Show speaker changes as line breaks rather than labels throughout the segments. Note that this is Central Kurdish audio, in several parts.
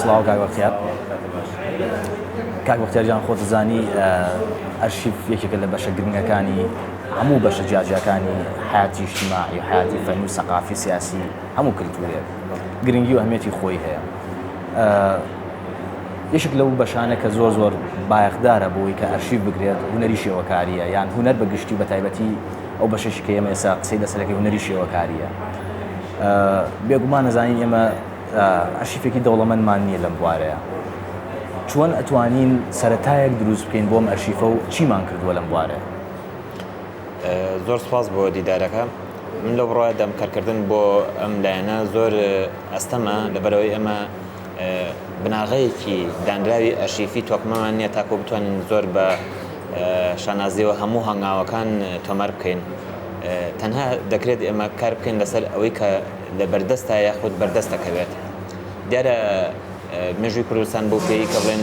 سڵاو کاک بەختیار کاک بەختیار جان خۆت زانی ئەرشیف یەکێکە لە بەشە گرنگەکانی هەموو بەشە جیاجیاکانی حیاتی شتیماعی حیاتی فەن و سەقافی سیاسی هەموو کللتورێک گرنگی و هەمێتی خۆی هەیە یشک لەو بەشانە کە زۆر زۆر بایەخدارە بۆی کە ئەرشیف بگرێت هوەری شێوەکاریە یان هوەر بە گشتی بە تایبەتی ئەو بەشش کە ئێمە ئێسا قسەی لەسەرەکەی هوەری شێوەکاریە بێگومان نەزانین ئێمە ئەرشیفێکی دەوڵەمەندمان نییە لەم بوارەیە چۆن ئەتوانین سەرەتایەک دروست بکەین بۆم ئەرشیفە و چیمان کردووە لەم بوارەیە
زۆر سپاس بۆ دیدارەکە من لەو بڕایە دەم کارکردن بۆ ئەم لایەنە زۆر ئەستەمە لەبەرەوەی ئەمە بناغەیەکی دانراوی ئەرشیفی تۆکمەمان نییە تاکۆ بتوانین زۆر بە شانازیەوە هەموو هەنگاوەکان تۆمار بکەین تەنها دەکرێت ئێمە کار بکەین لەسەر ئەوەی کە لە بەردەستە یاخود بەردەست دەکەوێت. دیارە مێژووی کوردستان بەو پێی کە بڵێن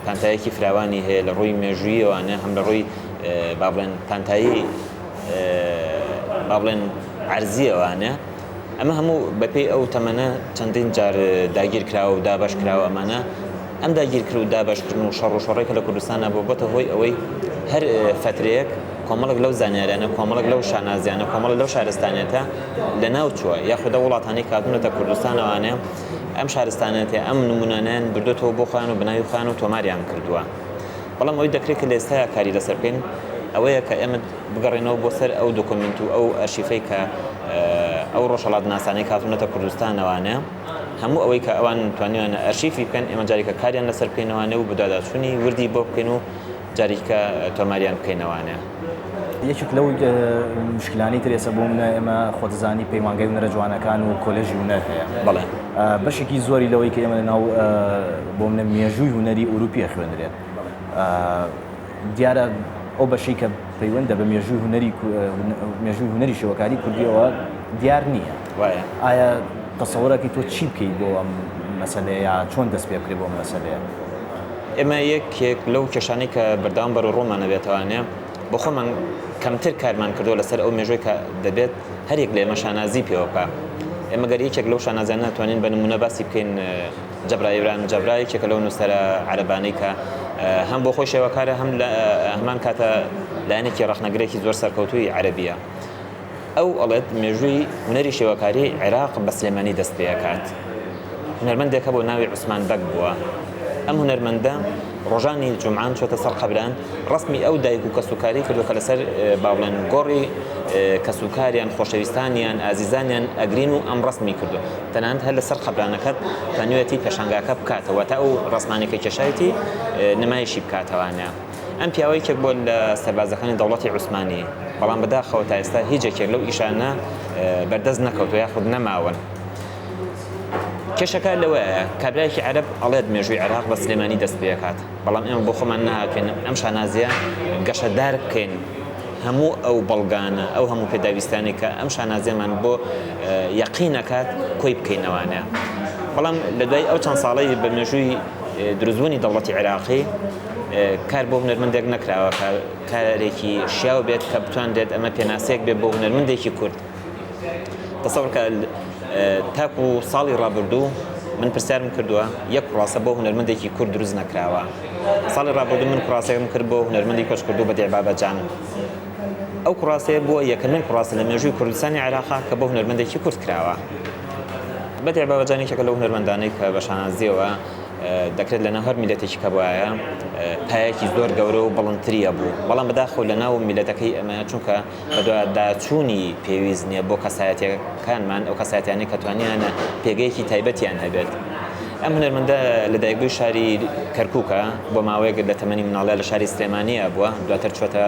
پانتایەکی فراوانی هەیە لە ڕووی مێژوویەوانە هەم لە ڕووی با بڵێن پانتایی با بڵێن عەرزیەوانە ئەمە هەموو بەپێی ئەو تەمەنە چەندین جار داگیر کراوە و دابەش کراوە ئەمانە ئەم داگیرکر و دابەشکردن و شەڕ و شۆڕەی کە لە کوردستان هەبوو بۆتە هۆی ئەوەی هەر فەترەیەک کۆمەڵێک لەو زانیاریانە کۆمەڵێک لەو شانازیانە کۆمەڵێک لەو شارستانیەتە لە ناو چووە یاخود لە وڵاتانی کاتونەتە کوردستانەوانێ ئەم شارستانەتێ ئەم نمونانیان بردوێتەوە بۆ خۆیان و بەناوی خۆیان و تۆماریان کردووە بەڵام ئەوەی دەکرێت کە لە ئێستایا کاری لەسەر بکەین ئەوەیە کە ئێمە بگەڕێنەوە بۆ سەر ئەو دۆکۆمنت و ئەو ئەرشیفەی کە ئەو ڕۆژهەڵاتناسانەی کاتونەتە کوردستانەوانێ هەموو ئەوەی کە ئەوان توانیویانە ئەرشیفی بکەن ئێمە جارێکە کاریان لەسەر بکەینەوانێ و بەدواداچوونی وردی بۆ بکەین و جاریکە تۆماریان بکەینەوانێ. یەکێک
لەو مشکلانەی تر ئێستا بۆ منە ئێمە خۆتزانی پەیمانگای هونەرە جوانەکان و کۆلێژی هونەر هەیە بەڵێ
بەشێکی زۆری
لەوەی کە ئێمە لە ناو بۆ منە مێژووی هونەری ئوروپیە خوێنرێت دیارە ئەو بەشی کە پەیوەندە بە مێژووی هونەری مێژووی هونەری شێوەکاری کوردیەوە دیار نییە. وایە؟ ئایا تەسەوڕەکەی تۆ چی بکەیت بۆ ئەم مەسەلەیە یا چۆن دەست پێ بکرێت بۆ ئەم مەسەلەیە؟ ئێمە
یەکێک لەو کێشانەی کە بەردەوام بەروڕوومان ئەبێتەوانێ بۆ خۆمان کەمتر کارمان کردووە لەسەر ئەو مێژووی کە دەبێت هەر یەک لە ئێمە شانازی پێوە بکا. ئێمە گەر یەکێک لەو شانازیانە توانین بە نموونە باسی بکەین جەبرا، ئیبراهیم جەبرا یەکێکە لەو نووسەرە عەرەبانەی کە هەم بۆ خۆی شێوەکارە هەم لە هەمان کاتە لایەنێکی ڕەخنەگرێکی زۆر سەرکەوتووی عەرەبییە. ئەو ئەڵێت مێژووی هونەری شێوەکاری عێراق بە سلێمانی دەست پێ ئەکات. هونەرمەندێک هەبوو ناوی عوسمان بەگ بووە. ئەم هونەرمەندە ڕۆژانی جومعان چۆتە سەر قەبران ڕەسمی ئەو دایک و کەسوکاری کردو کە لەسەر با بڵێن گۆڕی کەسوکاریان خۆشەویستانیان ئازیزانیان ئەگرین و ئەم ڕەسمی کردو تەنانەت هەر لەسەر قەبرانەکە تەنوێتی پێشانگاکە بکاتەوە واتە ئەو ڕەسمانەی کە کێشایەتی نمایشی بکاتەوانە. ئەم پیاوە یەکێک بووە لە سەربازەکانی دەوڵەتی عوسمانی، بەڵام بەداخەوە تا ئێستا هیچ یەکێک لەو ئیشانە بەردەست نەکەوتووە یاخود نەماون. کێشەکە لەوەیە کابرایەکی عەرەب ئەڵێت مێژووی عێراق بە سلێمانی دەست پێکات، بەڵام ئێمە بۆ خۆمان نەهاتووین ئەم شانازییە گەشەدار بکەین، هەموو ئەو بەڵگانە، ئەو هەموو پێداویستانەی کە ئەم شانازییەمان بۆ یەقین ئەکات کۆی بکەینەوانێ. بەڵام لە دوای ئەو چەند ساڵەی بە مێژووی دروستبوونی دەوڵەتی عێراقی، کار بۆ هونەرمەندێک نەکراوە کە کارێکی شیاو بێت کە بتوانرێت ئەمە پێناسەیەک بێت بۆ هونەرمەندێکی کورد تەسەڕکە تاکو و ساڵی ڕابردوو من پرسیارم کردووە یەک کوڕاسە بۆ هونەرمەندێکی کورد دروست نەکراوە ساڵی ڕابردوو من کوڕاسەکەم کرد بۆ هونەرمەندی کۆچ کردو بە دێبابەجان ئەو کوڕاستەیە بووە یەکەمین کوڕاستە لە مێژووی کوردستانی عێراقا کە بۆ هونەرمەندێکی کورد کراوە بەدێ بابەجانێکێکە لەو هونەرمەندانەی کە بە شانازیەوە دەکرێت لەناو هەر میللەتێکی کەبوایە پایەکی زۆر گەورە و بڵندتری ئەبوو بەڵام بەداخەوە لەناو میللەتەکەی ئەمە چونکە بەدواداچوونی پێویست نییە بۆ کەسایەتەکانمان ئەو کەسایەتیانەی کە توانیانە پێگەیەکی تایبەتیان هەبێت ئەم هونەرمەندە لەدایکبووی شاری کەرکووکە بۆ ماوەیەک لە تەمەنی مناڵە لە شاری سلێمانیە بووە دواتر چۆتە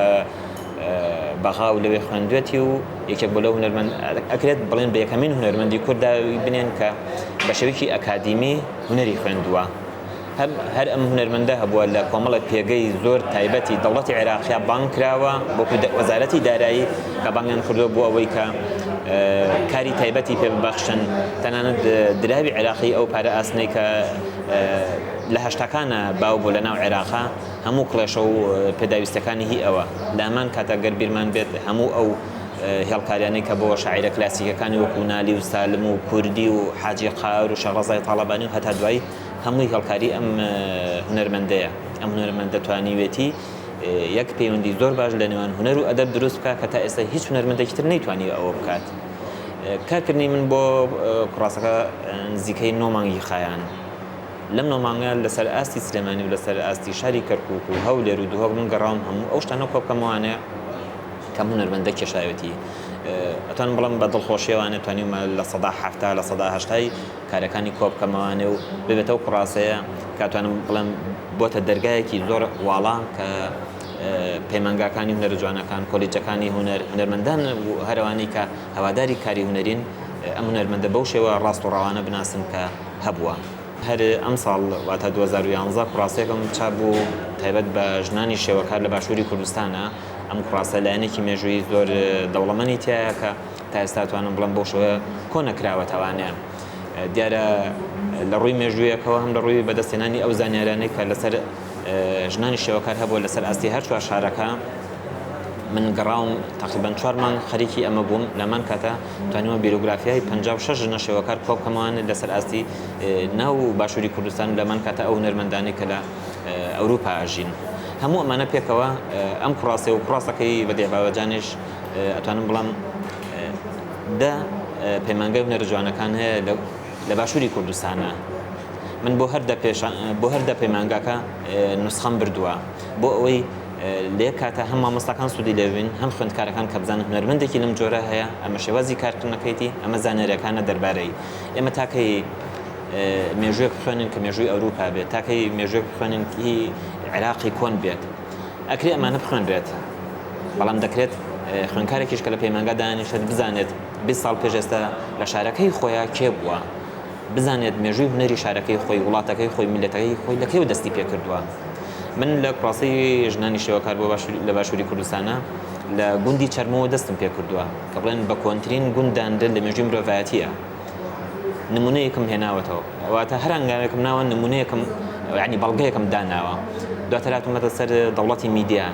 بەغا و لەوێ خوێندوێتی و یەکێک بۆ لە هونەرمەند ئەکرێت بڵێن بە یەکەمین هونەرمەندی کورددا بنێن کە بە شێوەیەکی ئەکادیمی هونەری خوێندووە، هەم هەر ئەم هونەرمەندە هەبووە لە کۆمەڵێک پێگەی زۆر تایبەتی دەوڵەتی عێراقیا بانگ کراوە وەکو وەزارەتی دارایی کە بانگیان کردووە بۆ ئەوەی کە کاری تایبەتی پێ ببەخشن تەنانەت دراوی عێراقی ئەو پارە ئاسنەی کە لە هەشتاکانە باو بۆ لە ناو عێراقا هەموو کڵێشە و پێداویستەکانی هی ئەوە لە هەمان کاتە گەر بیرمان بێت هەموو ئەو هێڵکاریانەی کە بۆ شاعیرە کلاسیکەکانی وەکو نالی و سالم و کوردی و حاجی قار و شەڕەزای تاڵەبانی و هەتا دوایی هەمووی هێڵکاری ئەم هونەرمەندەیە ئەم هونەرمەندە توانیوێتی یەک پەیوەندی زۆر باش لە نێوان هونەر و ئەدەب دروست بکە کە تا ئێستا هیچ هونەرمەندێکی تر نەیتوانی ئەوە بکات کارکردنی من بۆ کوڕاسەکە نزیکەی نۆ مانگی خایان لەم نۆمانگە لەسەر ئاستی سلێمانی و لەسەر ئاستی شاری کەرکک و هەولێر و دوهۆک من گەڕاوم هەموو ئەو شتانە کۆ بکەمەوانێ کام هونەرمەندە کێشایەتی؟ ئەتوانم بڵێم بە دڵخۆشیەوانێ توانیومە لە سەدا حەفتا لە سەدا هەشتای کارەکانی کۆبکەمەوانێ و ببێتەوە کوڕاسەیە کاتوانم بڵێم بۆتە دەرگایەکی زۆر واڵا کە پەیمانگاکانی هونەر جوانەکان کۆلیجەکانی هونەر هونەرمەندان هەروانەی کە هەواداری کاری هونەرین ئەم هونەرمەندە بەو شێوە ڕاست و ڕاوانە بناسن کە هەبووە. هەر ئەمساڵ واتە دوو هەزار و یازدە کوڕاسەکەم چاپ بوو تایبەت بە ژنانی شێوەکار لە باشووری کوردستانە، ئەم کڕاسە لایەنێکی مێژوویی زۆر دەوڵەمەنی تیایە کە تا ئێستا توانم بڵێم بەو شێوە کۆ نەکراوەتەوانەیە دیارە لە ڕووی مێژوویەکەوە هەم لە ڕووی بەدەستێنانی ئەو زانیارانەی کە لەسەر ژنانی شێوەکار هەبووە لەسەر ئاستی هەر چوار شارەکە من گەڕاوم تقریبان چوار مانگ خەریکی ئەمە بووم لەمان کاتە توانیوە بیرۆگرافیای 56 ژنە شێوەکار کۆبکەمەوان لەسەر ئاستی ناو باشووری کوردستان لەمان کاتە ئەو نەرمەندانی کە لە ئەوروپا ئەژین هەموو ئەمانە پێکەوە ئەم کوڕاسی و کوڕاسەکەی بە دێباوەجانش ئەتوانم بڵم دە پەیمانگای هونەرە جوانەکان هەیە لە باشووری کوردستانە من بۆ هەر بۆ هەر دە پەیمانگاکە نوسخەم بردووە بۆ ئەوەی لێ کاتە هەم مامۆستاکان سوودی لێبین هەم خوێندکارەکان کە بزانن هونەرمەندێکی لەم جۆرە هەیە ئەمە شێوازی کارکردنەکەیتی ئەمە زانێرەکانە دەربارەی ئێمە تاکەی مێژوێک بخوێنن کە مێژووی ئەوروپا بێت تاکەی مێژوێک بخوێنن هی عێراقی کۆن بێت ئەکری ئەمانە بخوێنرێت بەڵام دەکرێت خوێنکارێکیش کە لە پەیمانگا دانیشێت بزانێت 20 ساڵ پێش ئێستا لە شارەکەی خۆیان کێ بووە بزانێت مێژووی هونەری شارەکەی خۆی وڵاتەکەی خۆی میلەتەکەی خۆی لە کێو دەستی پێ کردووە من لە کوڕاسی ژنانی شێوەکار بۆ باش لە باشووری کوردستانە لە گوندی چەرمەوە دەستم پێ کردووە کە بڵێن بە کۆنتترین گونداندن لە مێژوی مرۆڤایەتە نمونەیەکم هێناوەتەوە واتە هەر هەنگاوێکم ناوە نمونەیەکم ینی بەڵگەیەکم داناوە دواتر هاتوومەتە سەر دەوڵەتی میدیا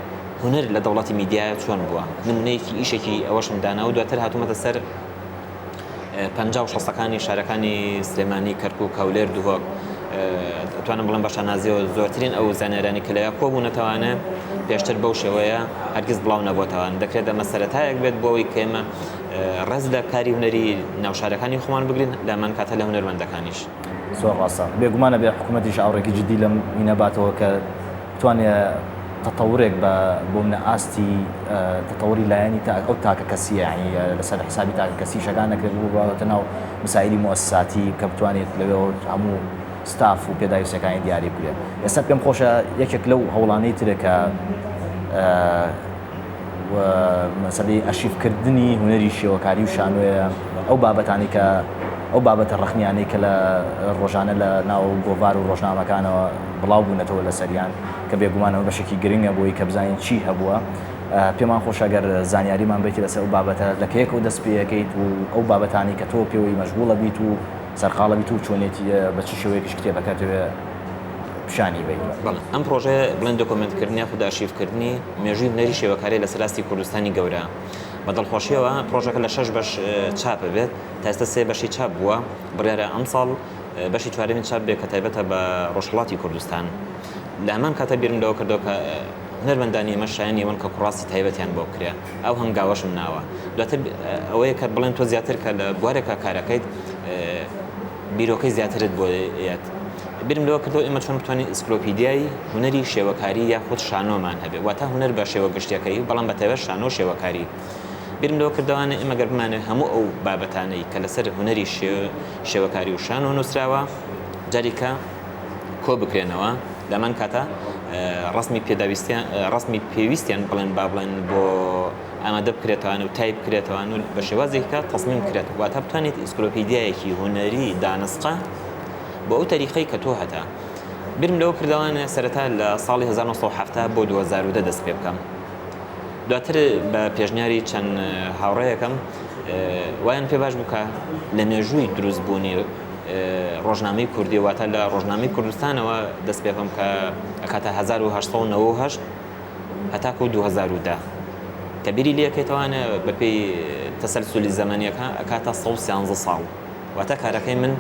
هونەر لە دەوڵەتی میدیا چۆن بووە نمونەیەکی ئیشێکی ئەوەشم دانا و دواتر هاتوومەتە سەر پ و شەستەکانی شارەکانی سلێمانی کەرکک کەولێر دوهۆک توانم بڵم بەشە نازیەوە زۆرترین ئەو زانێرانی کە لەیا کۆبوونەتەوانە پێشتر بەو شێوەیە هەرگیز بڵاو نەبووتەوان دەکرێت ئەمە سەرەتایەک بێت بۆەوەی کێمە ڕێز لە کاری هونەری ناو شارەکانی خۆمان بگرین لە من کاتە لە هونەرمەندەکانیش. زۆر ڕاستە
بێگومان ئەبێ حکومەتیش ئاوڕێکی جدی لەم مینە باتەوە کە بتوانێ تەتەورێک بە بۆ منە ئاستی تەتەوری لایەنی تا ئەو تاکە کەسیە ینی لەسەر حسابی تاکە کەسی شەکان نەکرێت بوو بەوەتە ناو مسائلی مؤسساتی کە بتوانێت لەوێ هەموو ستاف و پێداویستەکانی دیاری بکرێت ئێستا پێم خۆشە یەکێک لەو هەوڵانەی ترێکە و مەسەلەی ئەرشیف کردنی هونەری شێوەکاری و شانۆیە ئەو بابەتانەی کە ئەو بابەتە ڕەخنیانەی کە لە ڕۆژانە لە ناو گۆڤار و ڕۆژنامەکانەوە بڵاو بوونەتەوە لەسەریان کە بێگومان ئەمە بەشێکی گرنگە بۆی کە بزانین چی هەبووە پێمان خۆشە گەر زانیاریمان بێتی لەسەر ئەو بابەتە لە کەیەکەوە دەست پێەکەیت و ئەو بابەتانی کە تۆ پێوەی مەشغوڵە بیت و سەرقاڵە بیت و چۆنێتی بە چ شێوەیەکیش کتێبەکەت پیشانی بەین بەڵێ ئەم پرۆژەیە
بڵێن دۆکۆمنتکردنی یاخود ئارشیڤکردنی مێژووی هونەری شێوەکاری لەسەر ئاستی کوردستانی گەورە بە دڵخۆشیەوە پرۆژەکە لە شەش بەش چاپ بێت تا ئێستا سێ بەشی چاپ بووە بڕیارە ئەمساڵ بەشی چوارەمی چاپ بێت کە تایبەتە بە ڕۆژهەڵاتی کوردستان لە هەمان کاتە بیرم لەوە کردەوە کە هونەرمەندانی ئێمە شایانی ئەوەن کە کوڕاستی تایبەتیان بۆ بکرێ ئەو هەنگاوەشم ناوە دواتر ئەوەیە کە بڵێن تۆ زیاتر کە لە بوارێکە کارەکەیت بیرۆکەی زیاترت بۆ یەت بیرم لەوە کردەوە ئێمە چۆن بتوانین ئیسکلۆپیدیای هونەری شێوەکاری یاخود شانۆمان هەبێت، واتە هونەر بە شێوە گشتیەکەی، بەڵام بە تایبەت شانۆ و شێوەکاری. بیرم لەوە کردەوانە ئێمە گەر بمانەوێت هەموو ئەو بابەتانەی کە لەسەر هونەری شێوەکاری و شانۆ نووسراوە جاریکە کۆ بکرێنەوە، لەمان کاتا ڕسمی پێداویستیان ڕسمی پێویستیان بڵێن با بڵێن بۆ ئامادە بکرێتوان و تایپ کرێتوان و بە شێوازێکە تەسمیم کرێت واتە بتوانێت ئیسکلۆپیدیایەکی هونەری دانسقە بۆ ئەو تەریقەی کە تۆ هەتە برم لەوە کردەوانە سەرەتا لە ساڵی 1970 بۆ 2010 دەست پێ بکەم دواتر بە پێشنیاری چەند هاوڕەیەکەم وایان پێ باش بکە لە مێژووی دروست بوونی ڕۆژنامەی کوردی واتە لە ڕۆژنامەی کوردستانەوە دەست پێ بکەم کە ئەکاتە 1990 هەتاکو 2010 کە بیری لەکەیتەوانە بەپێی تەسەلسولی زەمەنیەکە ئەکاتە 113 ساڵ. واتە کارەکەی من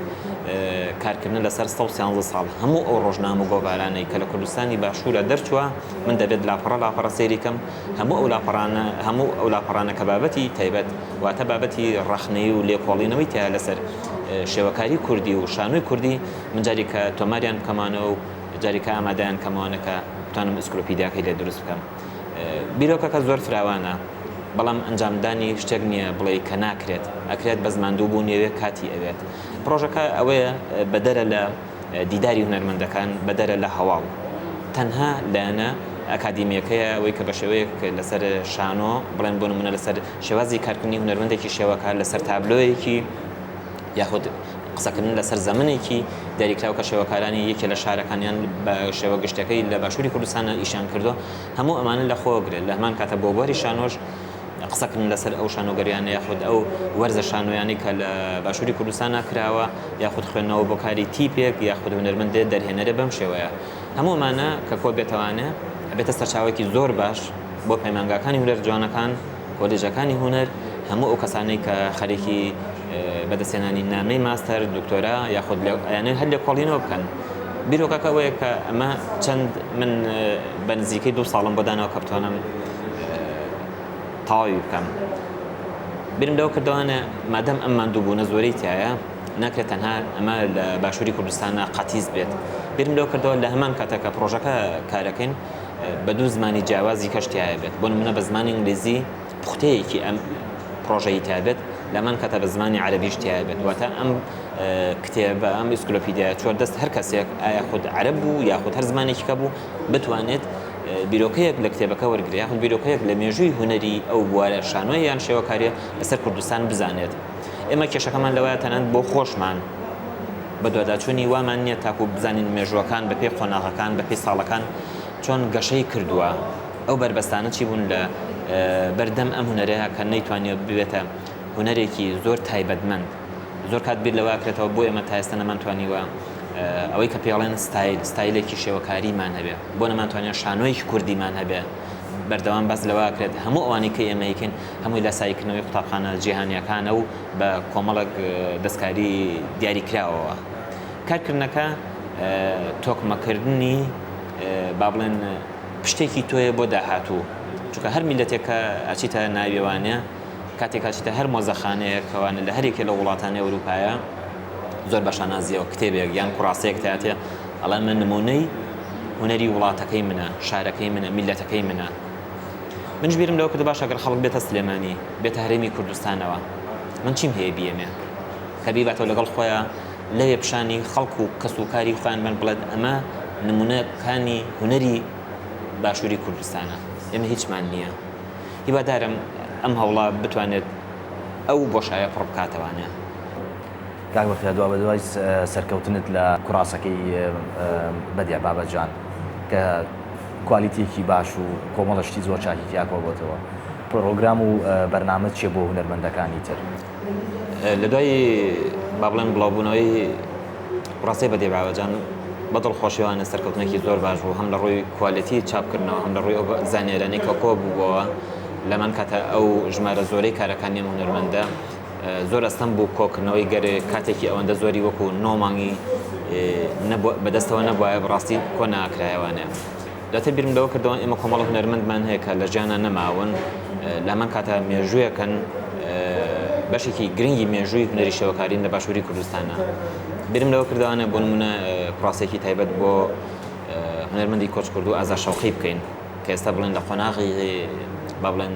کارکردن لەسەر سە و سیانزە ساڵ هەموو ئەو ڕۆژنامە و گۆڤارانەی کە لە کوردستانی باشوورە دەرچووە من دەبێت لاپەڕە لاپەڕە سەیریکەم هەموو ئەو لاپەڕانە هەموو ئەو لاپەڕانە کە بابەتی تایبەت واتە بابەتی ڕەخنەی و لێکۆڵینەوەی تیا لەسەر شێوەکاری کوردی و شانۆی کوردی من جاریکە تۆماریان بکەمانەوە و جاریکە ئامادەیان کەمەوانەکە بتانم ئسکلۆپیدیاکەی لێ دروست بکەم. بیرۆکەکە زۆر فراوانە بەڵام ئەنجامدانی شتێک نییە بڵێی کە ناکرێت ئەکرێت بەس ماندوو بوون یەوێ کاتی ئەوێت پڕۆژەکە ئەوەیە بەدەرە لە دیداری هونەرمەندەکان بەدەرە لە هەواڵ تەنها لایەنە ئەکادیمیەکەیە ئەوەی کە بە شێوەیەک لەسەر شانۆ بڵێن بۆ نمونە لەسەر شێوازی کارکردنی هونەرمەندێکی شێوەکە لەسەر تابلۆیەکی یاخود قسەکردن لەسەر زەمنێکی دیاریکراو کە شێوەکارانی یەکێ لە شارەکان یان بە شێوە گشتەکەی لە باشووری کوردستانە ئیشیان کردووە، هەموو ئەمانە لەخۆ گرێ، لە هەمان کاتە بۆ بواری شانۆش قسەکردن لەسەر ئەو شانۆگەریانە یاخود ئەو وەرزە شانۆیانەی کە لە باشووری کوردستانا کراوە یاخود خوێندنەوە بۆ کاری تیپێک یاخود هونەرمەند دێت دەرهێنەرێ بەم شێوەیە هەموو ئەمانە کە کۆ بێتەوانێ ئەبێتە سەرچاوەیەکی زۆر باش بۆ پەیمانگاکانی هونەر جوانەکان. کۆلێژەکانی هونەر هەموو ئەو کەسانەی کە خەریکی بەدەستێنانی نامەی ماستەر دکتۆرا یاخود ئەیانەوێت هەر لێکۆڵینەوە بکەن بیرۆکەکە ئەوەیە کە ئەمە چەند من بە نزیکەی دوو ساڵم بۆ داناوە کە بتوانم تەواوی بکەم برم لەو کردوانە مادەم ئەم ماندوو بوونە زۆری تایە ناکرێت تەنها ئەمە لە باشووری کوردستانە قەتیس بێت برم لەو کردەوە لە هەمان کاتەکە پرۆژەکە کارەکەین بە دوو زمانی جیاوازی کەش تیایە بێت بۆ نمونە بە زمانی ئینگلیزی پوختەیەکی ئەم پڕۆژەی تابێت لەمان کەتە بە زمانی عەربیش تیایە بێت واتە ئەم کتێبە ئەم ئیسکلۆپیدیا چۆر دەست هەر کەسێک ئایا خود عەرب بوو یاخود هەر زمانێکی کە بوو بتوانێت بیرۆکەیەک لە کتێبەکە وەرگری یاخود بیرۆکەیەک لە مێژووی هوەری ئەو بوارە شانۆی یان شێوەکاریە لەسەر کوردستان بزانێت ئێمە کێشەکەمان لەوەیە تەنان بۆ خۆشمان بەدواداچوونی وامان نییە تاکوو بزانین مێژووەکان بە پێی قۆناغەکان بە پێی ساڵەکان چۆن گەشەی کردووە ئەو بەربەستانە چی بوون لە بەردەم ئەم هونەرەیە کە نەیتوانیە ببێتە هونەرێکی زۆر تایبەتمەند زۆر کات بیر لەواکرێتەوە بۆ ئێمە تا ئێستا نەمانتوانیوە ئەوەی کە پێڵێن ستایل ستایلێکی شێوەکاریمان هەبێ بۆ نەمانتوانێت شانۆیەکی کوردیمان هەبێ بەردەوام بەس لەواکرێت هەموو ئەوانی کە ئێمەیکن هەمووی لە سایکردنەوەی قوتابخانە جیهانیەکانە و بە کۆمەڵێک دەستکاری دیاریکراوەوە کارکردنەکە تۆکمەکردنی با بڵێن پشتێکی تۆیە بۆ داهاتوو چونکە هەر میلەتێکە ئەچیتە ناوێوانێ کاتێک ئەچیتە هەر مۆزەخانەیە کەوانە لە هەرێکێ لە وڵاتانی ئەوروپایە زۆر بە شانازیەوە کتێبێک یان کوڕاستەیەک تاتێ ئەڵێ من نمونەی هونەری وڵاتەکەی منە شارەکەی منە میلەتەکەی منە منیش بیرم لەوە کردو باشە گەر خەڵک بێتە سلێمانی بێتە هەرێمی کوردستانەوە من چیم هەیە بیەمێ کە بیباتەوە لەگەڵ خۆیان لەوێ پیشانی خەڵک و کەس و کاری خۆیان بن بڵێت ئەمە نمونونەکانی هوەری باشووری کوردستانە ئێمە هیچمان نییە هیوادارم ئەم هەوڵە بتوانێت ئەو بۆشایە پڕ بکاتەوانە.
کاک بەختیار دوابەدوای سەرکەوتنت لە کوراسەکەی بەدیع بابەجان کە کوالیتیەکی باش و کۆمەڵە شتی زۆر چاکی تیا کۆبۆتەوە پرۆگرام و بەرنامەت چیە بۆ هونەرمەندەکانی تر؟
لەدوای بابڵێم بڵاوبونەوەی کوراسەی بەدیع بابەجان بە دڵخۆشیەوانە سەرکەوتنێکی زۆر باش بوو هەم لە ڕووی کوالیتی چاپکردنەوە هەم لە ڕووی ئەو زانیاریانەی کە کۆببوەوە لەمان کاتە ئەو ژمارە زۆرەی کارەکانی ئەم هونەرمەندە زۆر ئەستەم بوو کۆکردنەوەی گەر کاتێکی ئەوەندە زۆری وەکو نۆ مانگی بەدەستەوە نەبوایە بڕاستی کۆ ناکرایەوانێ دەتە بیرم لەوە کردەوە ئێمە کۆمەڵ هونەرمەندمان هەیە کە لە ژیانە نەماون لەمان کاتە مێژوویەکەن بەشێکی گرنگی مێژووی هونەری شەوەکارین لە باشووری کوردستانە برم لەوە کردوانە بۆ نمونە کوڕاسێکی تایبەت بۆ هونەرمەندی کۆچ کردو ئازا شەوقی بکەین کە ئێستا بڵێن لە قۆناغی با بڵێن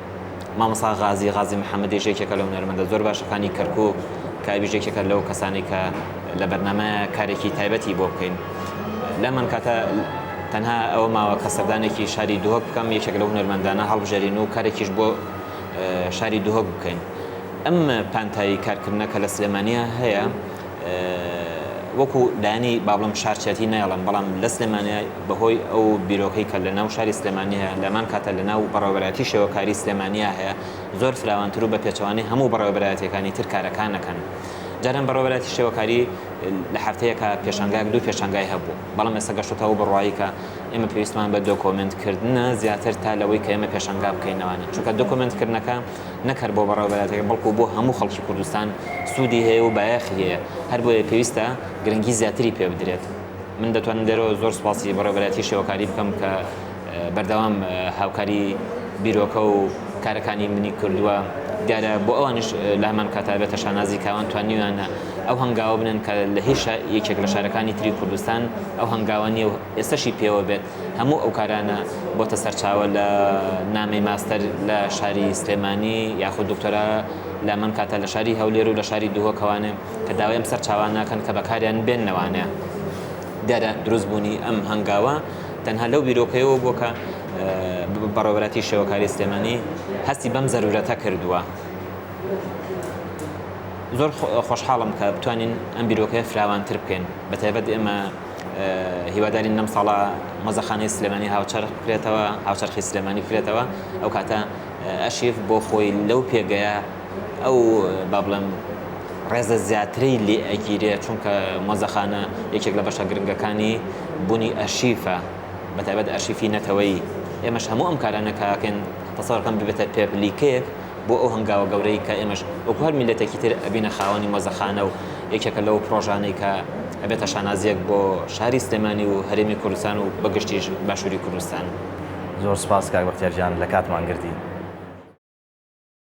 مامۆستا غازی غازی محمدیش یەکێکە لەو هونەرمەندە زۆر باشە فانی کەرکوک کابیش یەکێکە لەو کەسانی کە لە بەرنامە کارێکی تایبەتی بۆ بکەین لەمان کاتە تەنها ئەوە ماوە کە سەردانێکی شاری دهۆک بکەم یەکێک لە هونەرمەندانە هەڵبژێرین و کارێکیش بۆ شاری دهۆک بکەین ئەم پانتایی کارکردنە کە لە سلێمانیا هەیە وەکو لایەنی بابلم شارچەتی نایڵم بەڵام لە سلێمانیا بەهۆی ئەو بیرۆکەی کە لە ناو شاری سلێمانی هەیە، لەهەمان کاتە لە ناو بەڕێوەبەرایەتی شێوەکاری سلێمانیا هەیە، زۆر فراوانتر و بە پێچەوانەی هەموو بەڕێوەبەرایەتییەکانی تر کارەکان ئەکەن. جاران بەڕێوەبەرایەتی شێوەکاری لە هەفتەیەکا پێشانگایەک دوو پێشانگای هەبوو، بەڵام ئێستا گەشتۆتە ئەو بڕوایەی کە ئێمە پێویستمان بە دۆکۆمێنت کردنە زیاتر تا لەوەی کە ئێمە پێشانگا بکەین لەوانە، چونکە دۆکۆمێنت کردنەکە نەک هەر بۆ بەڕێوەبەرایەتییەکە بەڵکو بۆ هەموو خەڵکی کوردستان سوودی هەیە و بایەخی هەیە، هەربۆیە پێویستە گرنگی زیاتری پێبدرێت. من دەتوانم لێرەوە زۆر سپاسی بەڕێوەبەرایەتی شێوەکاری بکەم کە بەردەوام هاوکاری بیرۆکە و کارەکانی منی کردووە دیارە بۆ ئەوانش لە هەمان کاتا بێتە شانازی کاوان توانیویانە ئەو هەنگاوە بنن کە لە هیچ یەکێک لە شارەکانی تری کوردستان ئەو هەنگاوە نیە و ئێستەشی پێوە بێت هەموو ئەو کارانە بۆتە سەرچاوە لە نامی ماستەر لە شاری سلێمانی یاخود دکتۆرا لە من کاتە لە شاری هەولێر و لە شاری دهۆکەوانێ کە داوای ئەم سەرچاوانە ناکەن کە بەکاریان بێنن وانە؟ دیارە دروست بوونی ئەم هەنگاوە تەنها لەو بیرۆکەیەوە بووە کە بەڕێوەبەرایەتی شێوەکاری سلێمانی هەستی بەم زەرورەتە کردووە زۆر خۆشحاڵم کە بتوانین ئەم بیرۆکەیە فراوانتر بکەین بە تایبەت ئێمە هیوادارین نەم ساڵە مەزەخانەی سلێمانی هاوچەر بکرێتەوە هاوچەرخی سلێمانی بکرێتەوە ئەو کاتە ئەشیف بۆ خۆی لەو پێگەیە ئەو با بڵێم ڕێزە زیاتری لێ ئەگیرێ چونکە مۆزەخانە یەکێک لە بەشە گرنگەکانی بوونی ئەرشیفە بە تایبەت ئەرشیفی نەتەوەی ئێمەش هەموو ئەم کارانە کاکەن تەسەڕکەم ببێتە پێپلیکێک بۆ ئەو هەنگاوە گەورەی کە ئێمەش وەکو هەر میلەتێکی تر ئەبینە خاوەنی مۆزەخانە و یەکێکە لەو پرۆژانەی کە ئەبێتە شانازیەک بۆ شاری سلێمانی و هەرێمی کوردستان و
بەگشتیش باشووری
کوردستان.
زۆر سپاس
کاک
بەختیار
گیان
لە کاتمان
گرتی.